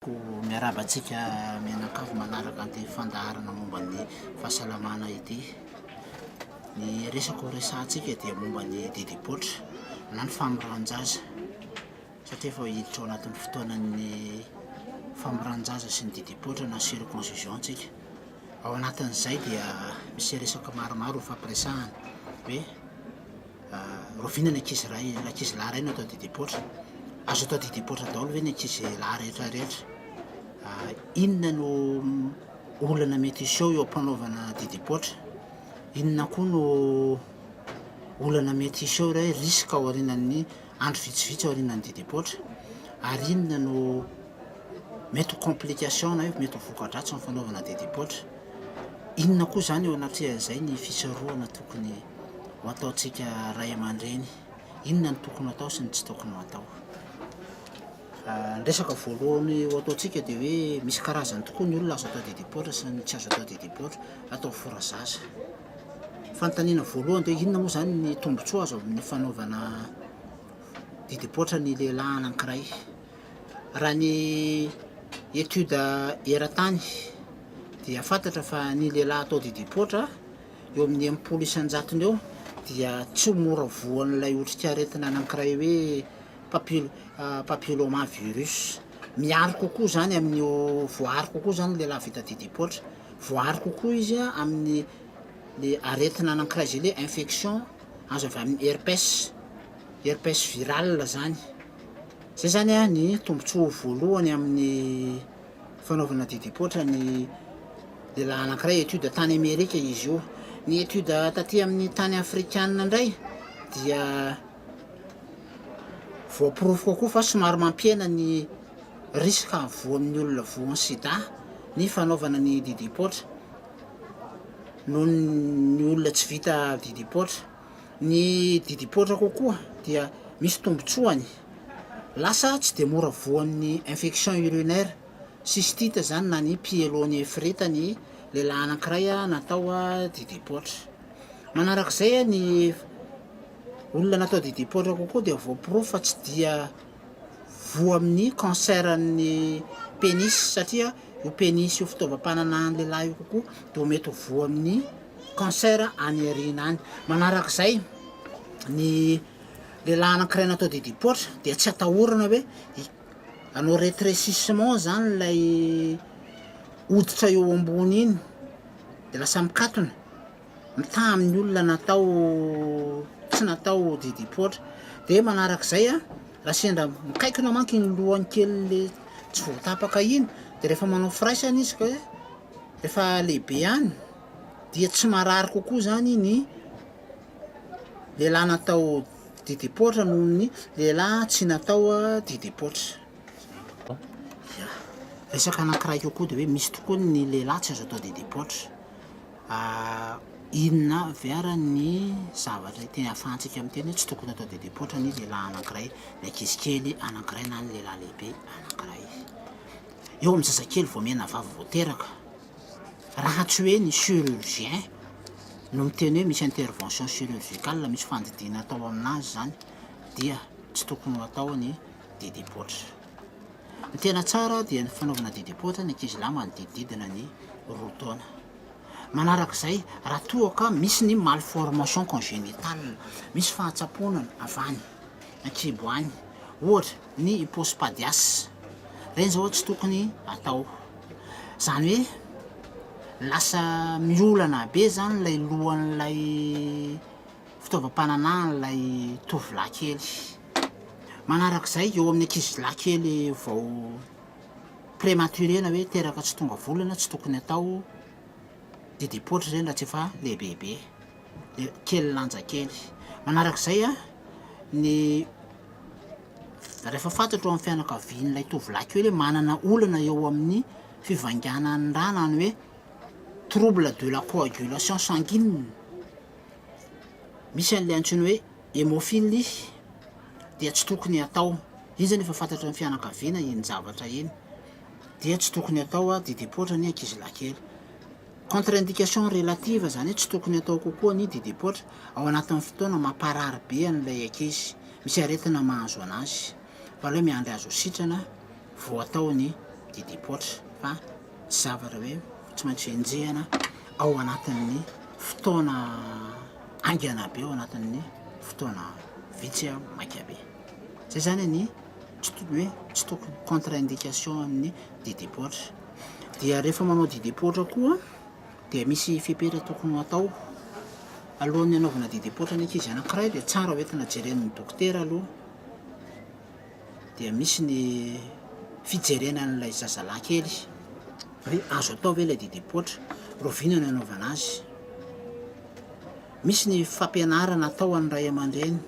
Ho miarahaba antsika mianakavy manaraka an'ity fandaharana momba ny fahasalamana ity. Ny resaka ho resahantsika dia momba ny didim-poatra na ny famorahan-jaza satria efa hiditra ao anatin'ny fotoanan'ny famorahan-jaza sy ny didim-poatra na circoncision isika. Ao anatin'izay dia misy resaka maromaro hofampiresahana hoe Rahoviana ny ankizy iray, ny ankizy lahy iray no atao didipoitra? Azo atao didipoitra daholo ve ny ankizy lahy rehetra rehetra? Inona no olana mety hiseho eo am-panaovana didipoitra? Inona koa no olana mety hiseho re risque ao aorianan'ny andro vitsivitsy aorianan'ny didipoitra? Ary inona no mety ho complication na hoe mety ho voka-dratsy amin'ny fanaovana didipoitra? Inona koa izany eo anatrehan'izay ny fisarohana tokony ho ataontsika ray aman-dreny? Inona no tokony ho atao sy ny tsy tokony ho atao? Ny resaka voalohany ho ataontsika dia hoe misy karazany tokoa ny olona azo atao dia dipoitra sy ny tsy azo atao dia dipoitra, atao fora zaza. Fanontaniana voalohany dia hoe inona moa izany ny tombontsoa azo amin'ny fanaovana dia dipoitra ny lehilahy anankiray? Raha ny etude eran-tany dia fantatra fa ny lehilahy atao didim-poatra eo amin'ny enimpolo isan-jatony eo dia tsy mora voan'ilay otrikaretina anankiray hoe papil- ah, papillomavirus. Miaro kokoa izany amin'ny ho- voaaro kokoa izany ny lehilahy vita didim-poatra. Voaaro kokoa izy ah, amin'ny le aretina anankiray izay le infection azo avy amin'ny herpes, herpes viral izany. Izay izany ny tombontsoa voalohany amin'ny fanaovana didipoitra ny lehilahy anankiray, étude tany Amerika izy io. Ny étude taty amin'ny tany afrikana indray dia voaporofo kokoa fa somary mampihena ny risque hahavoan'ny olona voan'ny sida ny fanaovana ny didipoitra noho ny olona tsy vita didipoitra. Ny didim-poatra kokoa dia misy tombotsoany. Lasa tsy dia mora voan'ny infection urinaire, cystite izany na ny pyélonéphrite ny lehilahy anankiray natao didim-poatra. Manarak'izay ny olona natao didim-poatra kokoa dia voaporofo fa tsy dia voa amin'ny cancer-n'ny pénis satria Io penis io fitaovam-pananahan'ny lehilahy io kokoa dia mety ho voa amin'ny cancer any aoriana any. Manaraka izay, ny lehilahy anankiray natao didim-poatra dia tsy atahorana hoe hanao retrécissement izany ilay hoditra eo ambony iny dia lasa mikatona, mitaha amin'ny olona natao tsy natao didipoitra dia manaraka izay a raha sendra mikaikina manko iny lohany kely tsy voatapaka iny dia rehefa manao firaisana izy ka rehefa lehibe any dia tsy marary kokoa zany ny lehilahy natao didipoitra noho ny lehilahy tsy natao didipoitra ya resaka anankiray kokoa dia hoe misy tokoa ny lehilahy tsy azo atao didipoitra Ary inona avy ary ny zavatra ity ahafahantsika miteny hoe tsy tokony hatao didipoitra ny lehilahy anankiray, ny ankizy kely anankiray na ny lehilahy lehibe anankiray? Eo amin'ny zazakely vao mihena vava vao teraka, raha tsy hoe ny chirurgien no miteny hoe misy intervention chirurgicale, misy fandidiana atao amin'azy izany dia tsy tokony ho atao ny didipoitra. Ny tena tsara dia ny fanaovana didim-poatra ny ankizilahy manodidididina ny roa taona. Manaraka izay, raha toa ka misy ny malformation congénitale, misy fahatsapoana avy any an-kibo any, ohatra ny hypospadias, ireny izao tsy tokony atao. Izany hoe lasa miolana be izany ilay lohan'ilay. fitaovam-pananahan'ilay tovolahy kely. Manaraka izay, eo amin'ny ankizilahy kely vao prematuré na hoe teraka tsy tonga volana, tsy tokony atao didim-paotra ireny raha tsy efa lehibebe, dia kely lanja kely. Manaraka izay, ny rehefa fantatro amin'ny fianakavian'ilay tovolahy kely hoe manana olana eo amin'ny fivainganan'ny rà na ny hoe trouble de la coagulation sanguine, Misy an'ilay antsoina hoe hémophilie dia tsy tokony hatao, izy anefa fantatry ny fianakaviana iny zavatra iny dia tsy tokony atao dia depoitra ny ankizilahy kely. Contre-indication relative izany hoe tsy tokony atao kokoa ny dia depoitra ao anatin'ny fotoana mamparary be an'ilay ankizy, misy aretina mahazo anazy fa aleo miandry azo sitrana vao atao ny dia depoitra fa zavatra hoe tsy maintsy enjehina ao anatin'ny fotoana haingana be, ao anatin'ny fotoana vitsy maika be. Zay zany ny tsy tokony hoe tsy tokony contre indication amin'ny didim-poatra. Dia rehefa manao didim-poatra koa dia misy fepetra tokony hatao alohan'ny hanaovana didim-poatra ny ankizy anankiray dia tsara hoentina jeren'ny dokotera aloha. dia misy ny fijerena an'ilay zazalahy kely hoe azo atao ve ilay dede poitra, rahoviana no anaovana azy. Misy ny fampianarana atao an'ny ray aman-dreny,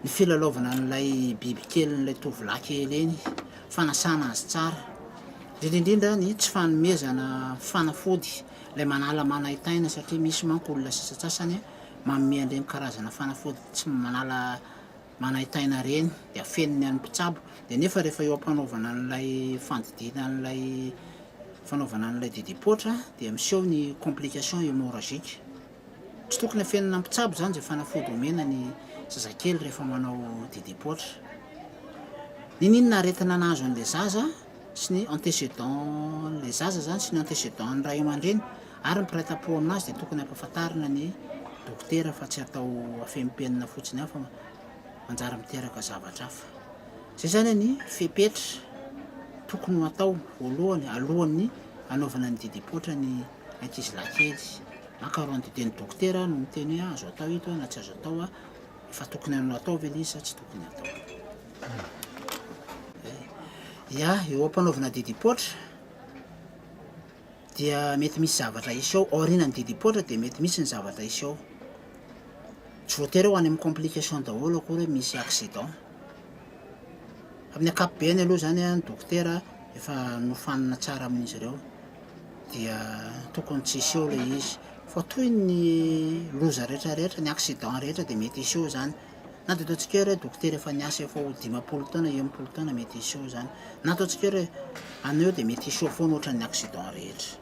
ny filalaovana an'ilay biby kelin'ilay tovolahy kely iny, fanasana azy tsara, indrindra indrindra ny tsy fanomezana fanafody ilay manala manaintaina satria misy manko olona sasantsasany manome an'ireny karazana fanafody tsy manala manaintaina ireny dia afeniny any mpitsabo dia nefa rehefa eo ampanaovana an'ilay fandidiana an'ilay fanaovana an'ilay didim-poitra dia miseho ny complication hemorragique tsy tokony afenina ny mpitsabo izany izay fanafody omena ny zazakely rehefa manao didim-poitra n'ininona aretina nahazo an'ilay zaza sy ny antécédent le zaza zany sy ny antécédent ny ray aman-dreny ary ny mpiray tampo aminazy dia tokony ampafantarina ny dokotera fa tsy atao afempenina fotsiny aho fa manjary miteraka zavatra hafa zay zany ny fepetra tokony ho atao voalohany alohan'ny anaovana ny didipoitra ny ankizy lahy kely makaron dite ny dokotera no miteny hoe azo atao ito na tsy azo atao efa tokony anao atao ve le izy sa tsy tokony atao Ya, eo am-panaovana didim-poatra dia mety misy zavatra hisy ao, aorianan'ny didim-poatra dia mety misy ny zavatra hisy ao. Tsy voatery ho any amin'ny complication daholo akory hoe misy accident. Amin'ny ankapobeny aloha izany ny dokotera efa nofanina tsara amin'izy ireo dia tokony tsy hiseho ilay izy fa toy ny loza rehetrarehetra, ny accident rehetra dia mety hiseho izany. Na dia ataontsika hoe dokotera efa niasa efa ho dimampolo taona, enimpolo taona mety hiseho izany. Na ataontsika hoe anao eo dia mety hiseho foana ohatran'ny accident rehetra.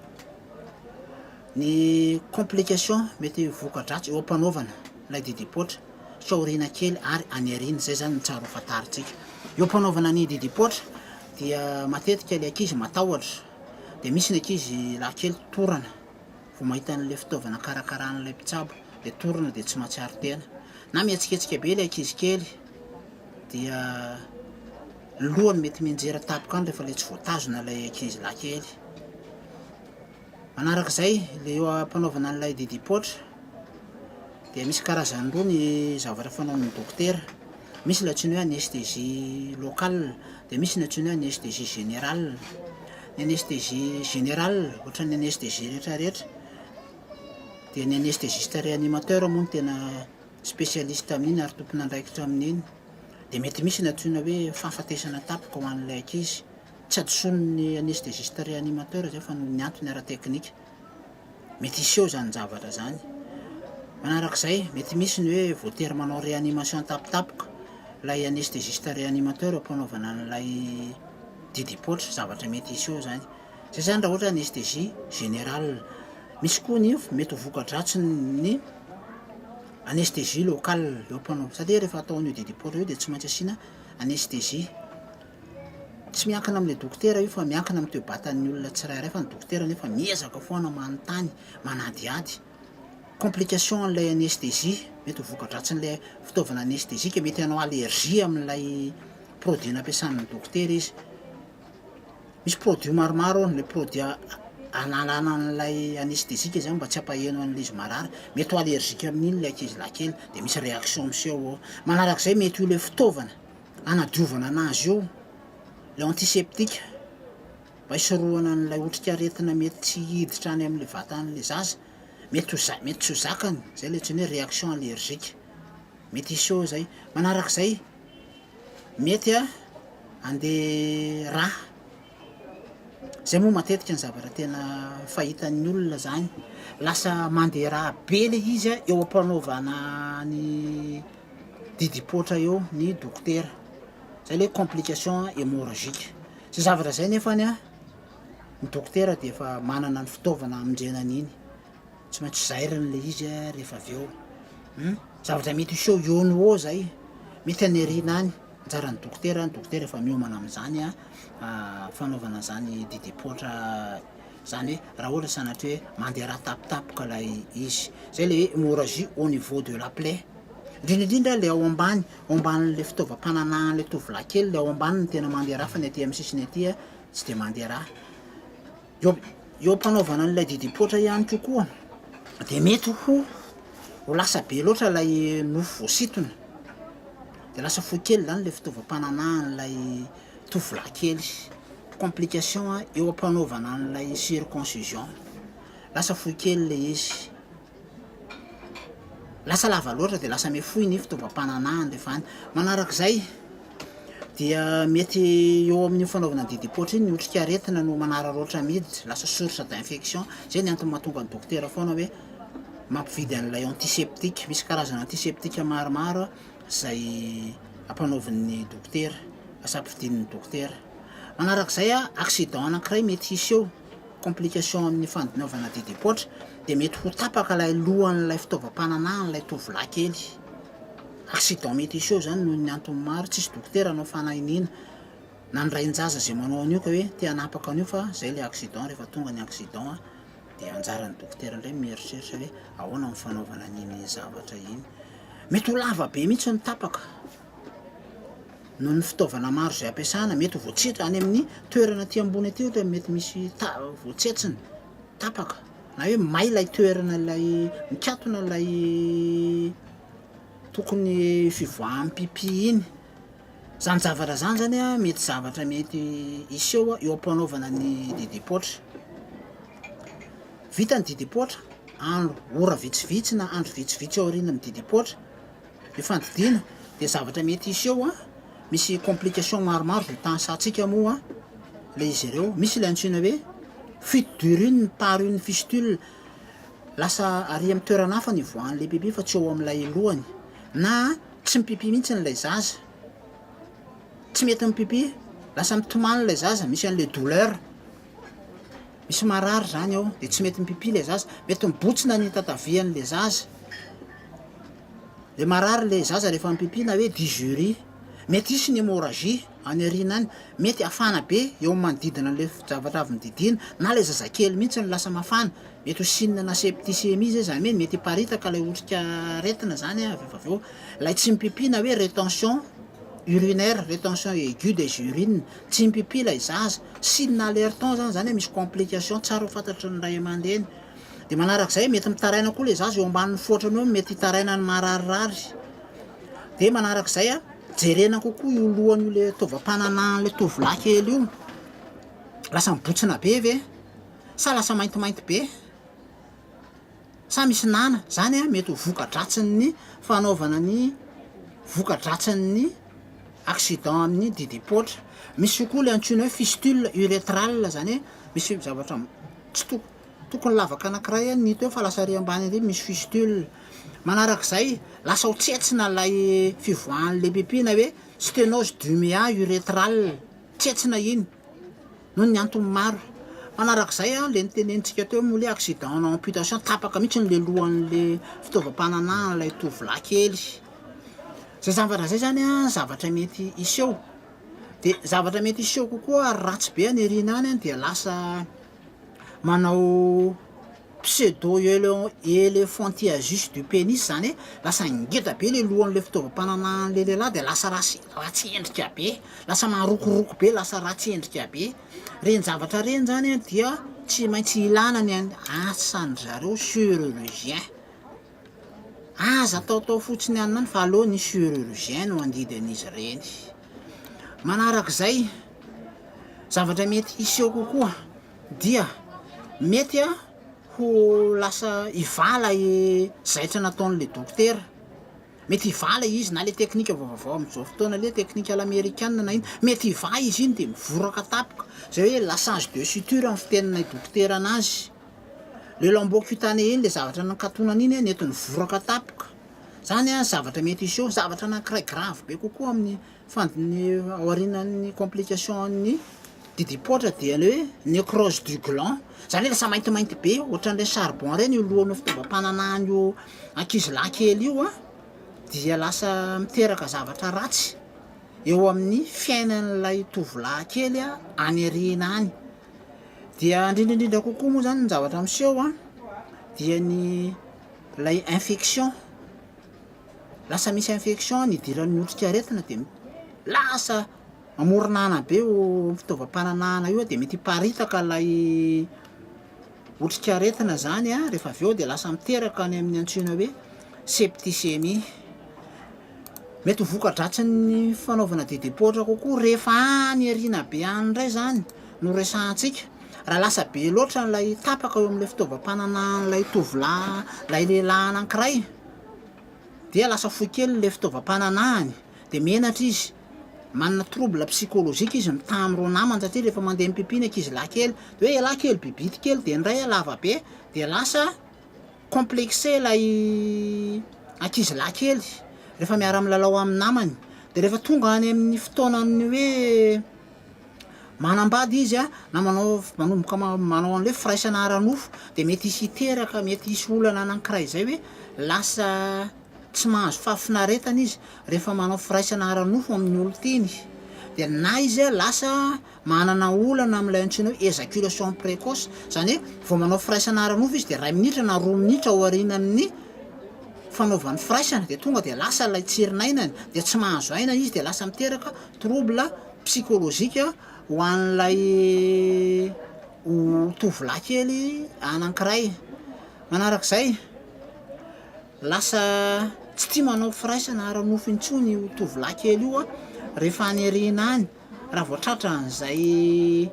Ny complication mety voka-dratsy eo am-panaovana ilay didim-poatra tsy aoriana kely ary any aoriana, izay izany ny tsara ho fantarintsika. Eo am-panaovana ny didim-poatra dia matetika ilay ankizy matahotra, dia misy ny ankizy lahy kely torana. Vao mahita an'ilay fitaovana karakarain'ilay mpitsabo dia torina dia tsy mahatsiaro tena. Na mihetsiketsika be ilay ankizy kely dia ny lohany mety mianjera tampoka any rehefa ilay tsy voatazona ilay ankizy lahy kely. Manaraka izay ilay eo am-panaovana an'ilay didim-poatra dia misy karazany roa ny zavatra fanaon'ny dokotera. Misy ilay antsoina hoe anesthésie locale, dia misy ny antsoina hoe anesthésie générale. Ny anesthésie générale, ohatran'ny anesthésie rehetrarehetra, dia ny anesthésiste réanimateur moa no tena spécialiste amin'iny ary tompon'andraikitra amin'iny. Dia mety misy ny antsoina hoe fahafatesana tapaka ho an'ilay ankizy. Tsy hadisoan'ny anesthésiste réanimateur izay fa noho ny antony ara-teknika. mety hiseho izany zavatra izany. Manaraka izay, mety misy ny hoe voatery manao réanimation an-tapitapoka ilay anesthésiste réanimateur am-panaovana an'ilay didim-paotra, zavatra mety hiseho izany. Izay izany raha ohatra anesthésie générale. Misy koa ny mety ho voka-dratsin'ny anesthésie locale eo am-panaovana, satria rehefa atao an'io didim-paotra io dia tsy maintsy asiana anesthésie. Tsy miankina amin'ilay dokotera io fa miankina amin'ny toe-batan'ny olona tsirairay fa ny dokotera anefa miezaka foana manontany, manadihady. Complication an'ilay anesthésie, mety ho voka-dratsin'ilay fitaovana anesthésique, mety hanao allergie amin'ilay produit nampiasan'ny dokotera izy. Misy produit maromaro ao, ilay produit analana an'ilay anesthésique izany mba tsy hampaheno an'ilay izy marary, mety ho allergique amin'iny ilay ankizilahy kely dia misy réaction miseho ao. Manarak'izay mety ho ilay fitaovana. hanadiovana anazy eo, ilay antiseptika, mba hisorohana an'ilay otrikaretina mety tsy hiditra any amin'ilay vatan'ilay zaza, mety ho za- mety tsy ho zakany, zay ilay antsoina hoe réaction allergique, mety hiseho zay. Manarak'izay, mety handeha rà. Zay moa matetika ny zavatra tena fahitan'ny olona zany, lasa mandera be le izy a, eo am-panaovana ny didim-poatra eo ny dokotera, zay le complication hemorragique, zay zavatra zay nefany a ny dokotera dia efa manana ny fitaovana hamondrena an'iny. Tsy maintsy zairana ilay izy rehefa avy eo. Hum, zavatra mety hiseho eo no ho eo izay. Mety haniriana any. Anjaran'ny dokotera, ny dokotera efa miomana amin'izany an, ah, fanaovana izany didim-poatra izany hoe raha ohatra sanatria hoe mandera tapitapika ilay izy. Izay ilay hoe hemorragie au niveau de la plaie. Indrindra indrindra ilay ao ambany, ao ambanin'ilay fitaovam-pananahan'ilay tovolahy kely, ilay ao ambany no tena mandera fa ny aty amin'ny sisiny aty an, tsy dia mandera. Eo eo am-panaovana an'ilay didim-poatra ihany koa koa dia mety ho ho lasa be loatra ilay nofo voasintona, dia lasa fohy kely izany ilay fitaovam-pananahan'ilay tovolahy kely, complication eo am-panaovana an'ilay circoncision, lasa fohy kely ilay izy. Lasa lava loatra dia lasa mihafohy ny fitaovam-pananahana rehefa any. Manaraka izay dia mety eo amin'io fanaovana ny didim-paotra iny ny otrikaretina no manararaotra miditra, lasa source d'infection. Izay ny antony mahatonga ny dokotera foana hoe mampividy an'ilay antiseptika. Misy karazana antiseptika maromaro izay ampanaovin'ny dokotera, lasa ampividian'ny dokotera. Manaraka izay, accident anankiray mety hisy eo. complication amin'ny fandinaovana didim-poatra dia mety ho tapaka ilay lohan'ilay fitaovam-pananahan'ilay tovolahy kely. Accident mety hiseho izany noho ny antony maro, tsisy dokotera hanao fanahiniana na ny rain-jaza izay manao an'io ka hoe te hanapaka an'io fa izay ilay accident, rehefa tonga ny accident dia anjaran'ny dokotera indray mieritreritra hoe ahoana ny fanaovana an'iny zavatra iny. Mety ho lava be mihitsy ny tapaka. Noho ny fitaovana maro izay ampiasana, mety ho voatse- any amin'ny toerana aty ambony aty ohatra mety misy ta- voatsetsina, tapaka, na hoe may ilay toerana ilay mikatona ilay tokony fivoaham-pipì iny. Zany zavatra zany zany a mety zavatra mety hiseho eo am-panaovana ny didim-paotra. Vita ny didim-paotra, andro, ora vitsivitsy na andro vitsivitsy aoriana ny didim-paotra. Ny fandidiana dia zavatra mety hiseho misy complication maromaro dia tahasantsika moa ilay izy ireo, misy ilay antsoina hoe fuite d'urine par une fistule, lasa ary amin'ny toerana hafa ny hivoahan'ilay pipi fa tsy eo amin'ilay lohany, na tsy mipipi mihitsy ilay zaza, tsy mety mipipi, lasa mitomany ilay zaza, misy an'ilay douleur. misy marary izany ao dia tsy mety mipipi ilay zaza, mety mibotsina ny tatavian'ilay zaza, dia marary ilay zaza rehefa mipipi na hoe dysurie, mety hisy ny hemorragie any aoriana any, mety hafana be eo amin'ny manodidina an'ilay zavatra avy nodidiana na ilay zazakely mihitsy no lasa mafana, mety ho signe na septicemie izay izany hoe mety hiparitaka ilay otrika aretina izany an, rehefa avy eo ilay tsy mipipi na hoe retention urinaire, retention aiguë des urines Tsy mpp ilay zaza. Signe alertant zany zany hoe misy complication, tsara ho fantatry ny ray amandreny. Dia manarak'izay mety mitaraina koa ilay zaza eo ambanin'ny foatrany eo no mety hitaraina ny mararirary. Dia manarak'izay jerena kokoa io lohany io ilay taovam-pananahan'ilay tovolahy kely io. Lasa mibontsina be ve? Sa lasa maintimainty be? Sa misy nana? Zany an mety ho voka-dratsin'ny fanaovana ny voka-dratsin'ny accident amin'ny didim-poatra. Misy koa ilay antsoina hoe fistule urétrale, zany hoe misy zavatra tsy toko- tokony lavaka anankiray an ny teo fa lasa ary ambany ary misy fistule. Manarak'izay, lasa ho tsentsina ilay fivoahan'ilay pipi na hoe stenose du méa urétrale, tsentsina iny. Noho ny antony maro. Manarak'izay, ilay notenenintsika teo moa ilay accident na amputation, tapaka mihitsy ilay lohan'ilay fitaovam-pananahan'ilay tovolahy kely. Izay zavatra izay izany an, zavatra mety hiseho. Dia zavatra mety hiseho kokoa ary ratsy be any aoriana any dia lasa manao. Pseudo elephantiasis du penis zany hoe lasa ngeda be le lohan'le fitaovam-pananahan'le lehilahy de lasa ratsy ratsy endrika be, lasa marokoroko be, lasa ratsy endrika be. Reny zavatra reny zany an dia tsy maintsy ilana ny an asan'dry zareo chirurgien. Aza ataotao fotsiny any ihany fa aleo ny chirurgien no handidy an'izy reny. Manarak'izay, zavatra mety hiseho kokoa Dia mety ho lasa hivala i zaitra nataon'ilay dokotera. Mety hivala izy na ilay teknika vaovao amin'izao fotoana ilay teknika à l'americaine na inona. Mety hivala izy iny dia mivoraka tampoka. Izay hoe lassage de suture ny fitenin'ilay dokotera anazy. Ilay lambeau cutanée iny, ilay zavatra nikatonana iny nety nivoraka tampoka. Izany zavatra mety hiseho, zavatra anankiray grave be kokoa amin'ny. Fandin'ny aorianan'ny complication an'ny didim-poatra dia ilay hoe necrose du gland, izany hoe lasa maintimainty be ohatran'ilay charbon ireny io lohan'io fitaovam-pananahan'io ankizilahy kely io an, dia lasa miteraka zavatra ratsy eo amin'ny fiainan'ilay tovolahy kely any aoriana any. Dia indrindra indrindra kokoa moa izany ny zavatra miseho an, dia ny ilay infection. lasa misy infection ny idiran'ny otrikaretina dia lasa mamoron'ana be io fitaovam-pananahana io dia mety hiparitaka ilay otrikaretina zany an, rehefa avy eo dia lasa miteraka ny amin'ny antsoina hoe septicemie, mety ho voka-dratsin'ny fanaovana didy am-poatra kokoa rehefa any aoriana be any indray zany no resahantsika, raha lasa be loatra ilay tapaka eo amin'ilay fitaovam-pananahan'ilay tovolahy, ilay lehilahy anankiray. dia lasa fohy kely ilay fitaovam-pananahany dia menatra izy, manana trouble psychologique izy mitaha amin'ireo namany satria rehefa mandeha mipipi ny ankizy lahy kely dia hoe ialahy kely be bity kely dia ny iray hoe lava be dia lasa complexé ilay ankizy lahy kely rehefa miara-milalao amin'ny namany dia rehefa tonga any amin'ny fotoanan'ny hoe manambady izy na manao manomboka manao an'ilay firaisana ara-nofo dia mety hisy hiteraka mety hisy olana anankiray izay hoe lasa tsy mahazo fahafinaretana izy rehefa manao firaisana ara-nofo amin'ny olon-tiany dia na izy lasa manana olana amin'ilay antsoina hoe ejaculation précoce izany hoe vao manao firaisana ara-nofo izy dia iray minitra na roa minitra aorianan'ny fanaovany firaisana dia tonga dia lasa ilay tsirinainany dia tsy mahazo aina izy dia lasa miteraka trouble psikolojika ho an'ilay tovolahy kely anankiray. Manarak'izay, lasa tsy tia manao firaisana ara-nofo intsony io tovolahy kely io rehefa any aoriana any raha vao tratran'izay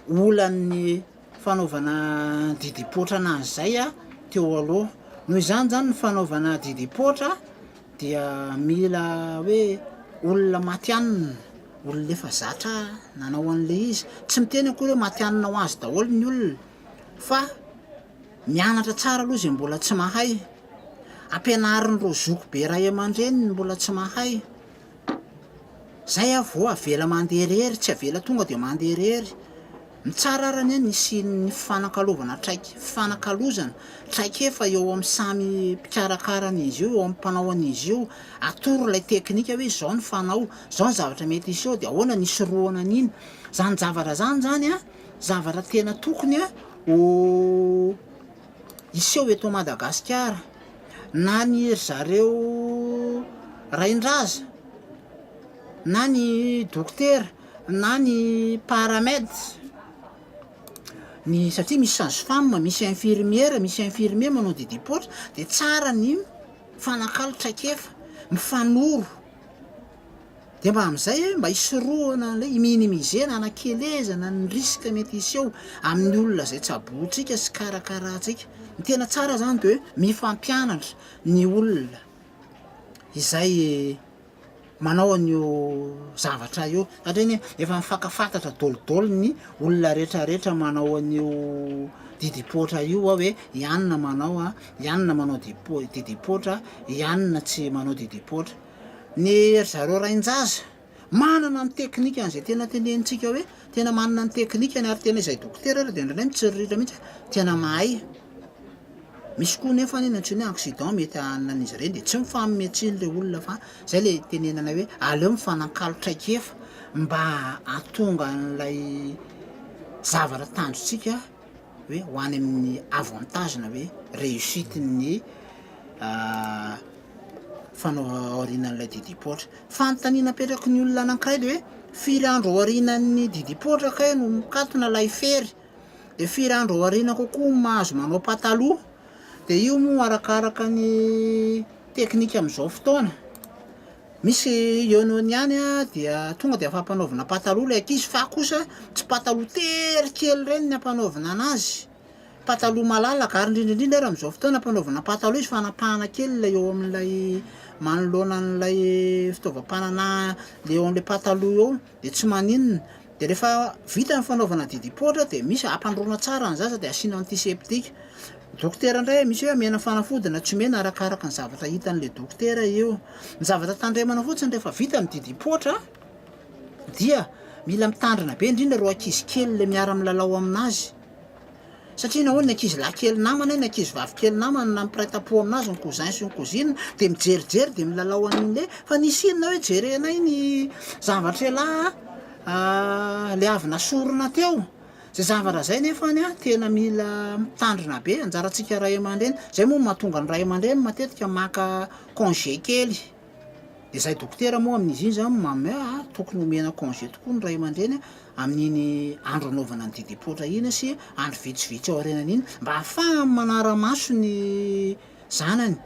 olan'ny fanaovana didim-poatra an'azy izay teo aloha. Noho izany izany ny fanaovana didim-poatra. Dia mila hoe olona matihanina, olona efa zatra nanao an'ilay izy. Tsy miteny akory hoe matihanina ho azy daholo ny olona fa mianatra tsara aloha izay mbola tsy mahay, ampianarin'ireo zoky be ray aman-dreny ny mbola tsy mahay, izay avy eo avela mandeha irery, tsy avela tonga dia mandeha irery. Mitsara ary anie ny hisian'ny fifanankalovana traik-, fifanakalozana, traikefa eo amin'ny samy mpikarakara an'izy io, eo amin'ny mpanao an'izy io. Atoro ilay teknika hoe izao ny fanao, izao ny zavatra mety hiseho dia ahoana ny hisorohana an'iny. Izany javatra izany izany an, zavatra tena tokony an ho hiseho eto Madagasikara. Na ny ry zareo rain-draza, na ny dokotera. na ny paramed ny satria misy sage femme, misy infirmiera, misy infirmier manao didim-poatra dia tsara ny mifanakalo traikefa, mifanoro dia mba amin'izay mba hisorohana an'ilay hi-minimiser-na, hanakelezana ny risque mety hiseho amin'ny olona izay tsabointsika sy karakaraintsika, ny tena tsara izany dia hoe mifampianatra ny olona izay manao an'io zavatra io satria ny efa mifankafantatra dôly dôly ny olona rehetra rehetra manao an'io didipoitra io a hoe i anona manao a i anona manao dipo- didipoitra i anona tsy manao didipoitra ny ry zareo rain-jaza manana ny teknikany izay tena tenenitsika hoe tena manana ny teknikany ary tena izay dokotera ary dia indraindray mitsiriritra mihitsy hoe tena mahay Misy koa nefa anie ny antsoiny hoe accident mety hahanina an'izy ireny dia tsy mifanome tsiny ilay olona fa izay ilay tenenana hoe aleo mifanankalo traikefa mba hahatonga an'ilay zavatra tanjontsika hoe ho any amin'ny avantage na hoe réussite ny fanaova aorianan'ilay didipoitra. Fanontaniana apetraky ny olona anankiray dia hoe firy andro aorianan'ny didipoitra kay no mikatona ilay fery? de firy andro aoriana kokoa no mahazo manao pataloha, de io moa arakaraka ny teknika amin'izao fotoana, misy ionoiny ihany an dia tonga de afa-panaovina pataloha lay ankizy fa kosa tsy pataloha tery kely ireny ny ampanaovina an'azy, pataloha malalaka, ary indrindra indrindra ary amin'izao fotoana ampanaovina pataloha izy fanapahana kely ilay eo amin'ilay manoloana an'ilay fitaovam-pananaha eo amin'ilay pataloha eo. dia tsy maninona, dia rehefa vita ny fanaovana didipoitra dia misy hampandroana tsara ny zaza dia asiana antiseptika, dokotera indray misy hoe omena fanafodina tsy omena arakaraka ny zavatra hitan'ilay dokotera io, ny zavatra tandremana fotsiny rehefa vita ny didipoitra dia mila mitandrina be indrindra ireo ankizy kely ilay miara milalao amin'azy, Satria na hoe ny ankizy lahy kely namana na ankizy vavy kely namana na mpiray tampo aminazy ny cousin sy ny cousine dia mijerijery dia milalao an'iny hoe fa nisy inona hoe jerenay ny zavatr'elah ah le avy nasorina teo zay zavatra zay nefany ah tena mila mitandrina be anjarantsika ray aman-dreny zay moa no mahatonga ny ray aman-dreny matetika maka congé kely Dia izahay dokotera moa amin'izy iny izany mamy ah, tokony omena congé tokoa ny ray aman-dreny amin'iny andro anaovana ny didim-poatra iny sy andro vitsivitsy aorianany iny mba hahafahany manara-maso ny zanany.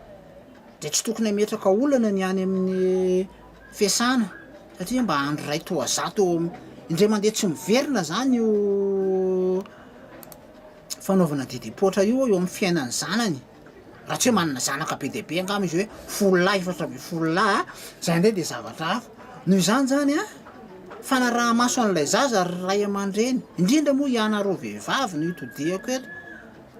Dia tsy tokony hametraka olana ny any amin'ny fiasana satria mba andro iray toa zato eo amin'ny, indray mandeha tsy miverina izany io fanaovana didim-poatra io eo amin'ny fiainan'ny zanany. Raha tsy hoe manana zanaka be dia be angamba izy hoe folo lahy efatra ambin'ny folo lahy izay indray dia zavatra hafa. Noho izany izany an, fanaraha-maso an'ilay zaza ry ray aman-dreny, indrindra moa ianareo vehivavy no itodihako eto,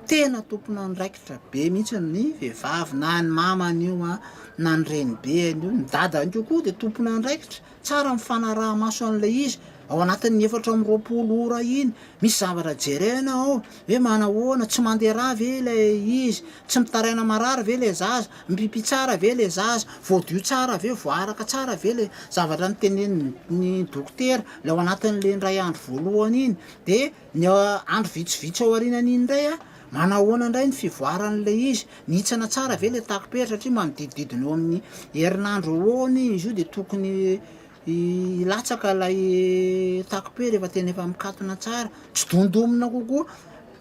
tena tompon'andraikitra be mihitsy ny vehivavy na ny mamany io an, na ny renibeny io, ny dadany io koa dia tompon'andraikitra. Tsara ny fanaraha-maso an'ilay izy ao anatin'ny efatra amby roapolo ora iny. Misy zavatra jerena ao hoe manahoana, tsy mandeha rà ve ilay izy, tsy mitaraina marary ve ilay zaza, mipipi tsara ve ilay zaza, voadio tsara ve, voaaraka tsara ve ilay zavatra notenenin'ny dokotera ilay ao anatin'ilay indray andro voalohany iny. Dia. Ny andro vitsivitsy aorianan'iny indray, manahoana indray ny fivoaran'ilay izy? Mihintsana tsara ve ilay takom-pery satria manodidididina eo amin'ny herinandro eo ho eo anie izy io dia tokony hilatsaka ilay takom-pery rehefa tena efa mikatona tsara, tsy dondomina kokoa,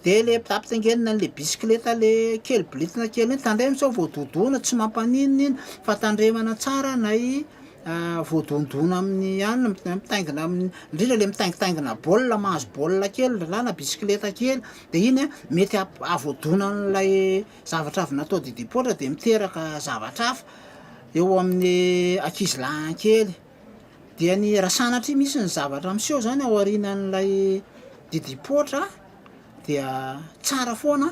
dia ilay ampitaingenina an'ilay bisikileta le kely biritina kely iny, tandremo sao voadodoina, tsy mampaninona iny fa tandremana tsara na i voadondona amin'ny anona mitaingina amin'ny indrindra le mitaingitaingina baolina mahazo baolina kely ndra na bisikileta kely de iny a mety ahavoadona an'ilay zavatra avy natao didi poitra de miteraka zavatra hafa eo amin'ny ankizy lahy kely dia ny raha sanatria misy ny zavatra miseho zany ao aorianan'ilay didi poitra dia tsara foana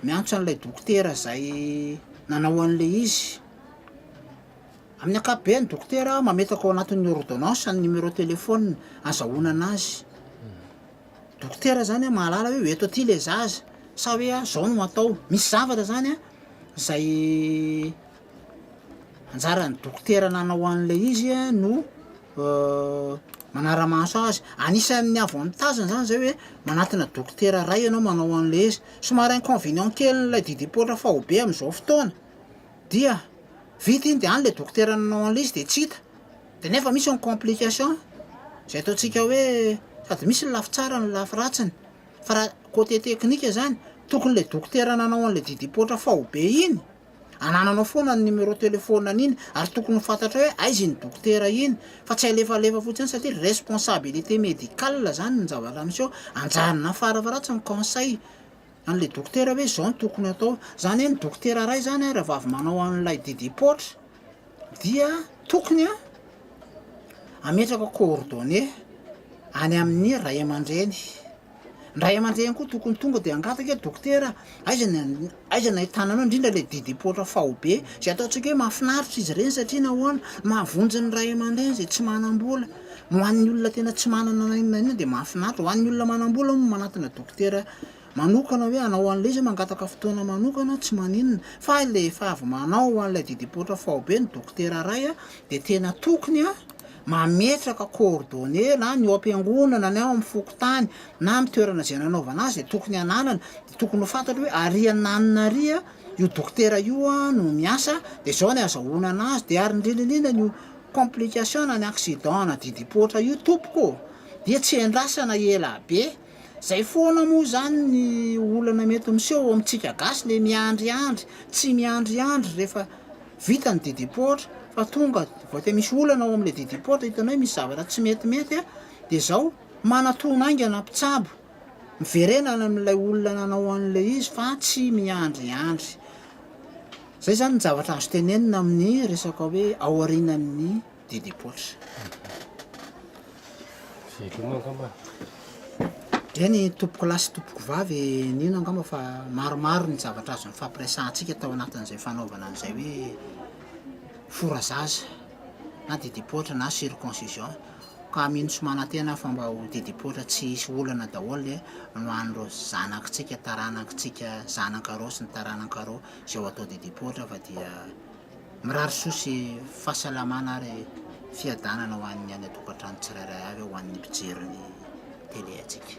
miantso an'ilay dokotera zay nanao an'le izy Amin'ny ankapobeny, dokotera mametraka ao anatin'ny ôrdônansa ny nimerô telefônina azahoanana azy. Dokotera izany mahalala hoe eto aty ilay zaza, sa hoe izao no atao. Misy zavatra izany izay anjaran'ny dokotera nanao an'ilay izy no manara-maso azy. Anisan'ny avantageny izany izay hoe manatona dokotera iray ianao manao an'ilay izy. Somary inconvénient kelin'ilay didim-poitra faobe amin'izao fotoana. Dia vita iny dia any ilay dokotera nanao an'ilay izy dia tsy hita. Dia nefa misy ny complication, izay ataontsika hoe sady misy ny lafy tsarany ny lafy ratsiny. Fa raha côté technique izany, tokony ilay dokotera nanao an'ilay didim-poatra faobe iny, anananao foana ny numéro téléphone an'iny, ary tokony ho fantatrao hoe aiza iny dokotera iny, fa tsy alefalefa fotsiny satria responsabilité médicale izany ny zavatra miseho, anjarina fara faharatsiny conseil An'ilay dokotera hoe izao no tokony hatao. Izany hoe ny dokotera iray izany raha vao avy manao an'ilay didim-paotra dia tokony hametraka coordonnées any amin'ny ray aman-dreny. Ny ray aman-dreny koa tokony tonga dia hangataka hoe dokotera aiza ny an- aiza ny ahitana anao indrindra ilay didim-paotra faobe. Izay ataontsika hoe mahafinaritra izy ireny satria nahoana, mahavonjy ny ray aman-dreny izay tsy manam-bola. Ho an'ny olona tena tsy manana na inona na inona dia mahafinaritra. Ho an'ny olona manam-bola moa manatona dokotera manokana hoe hanao an'ilay izy, mangataka fotoana manokana, tsy maninona. Fa ilay efa avy manao an'ilay didim-poatra faobe ny dokotera iray dia tena tokony mametraka coordonnées na ny ao am-piangonana na ao amin'ny fokontany na amin'ny toerana izay nanaovana azy dia tokony hananana, dia tokony ho fantatro hoe ary an'anona ary io dokotera io no miasa dia izao ny azahoana an'azy dia ary ny rinininan' io Complication na ny accident na didipoitra io tompoko dia tsy endrasana ela be, zay foana moa zany ny olana mety miseho ao amintsika gasy le miandriandry, tsy miandriandry refa vita ny didipoitra fa tonga vao te misy olana ao amle didipoitra hitanao hoe misy zavatra tsy metimety a, de zao manatona aingana mpitsabo. Miverenana amin'ilay olona nanao an'ilay izy fa tsy miandriandry. Izay izany ny zavatra azo tenenina amin'ny resaka hoe aorianan'ny dia depoitra. Veloma angamba. Dia ny tompoko lahy sy tompoko vavy nino angamba fa maromaro ny zavatra azo nifampiresahantsika tao anatin'izay fanaovana an'izay hoe fora zaza. na didipoitra na circoncision ka mino sy manantena fa mba ho didipoitra tsy hisy olana daholo ny ho an'ireo zanakitsika taranakitsika zanaka roa sy ny taranaka roa izay ho atao didipoitra fa dia mirary soa sy fahasalamana ary fiadanana ho an'ny any an-tokantrano tsirairay avy ho an'ny mpijery ny tele antsika.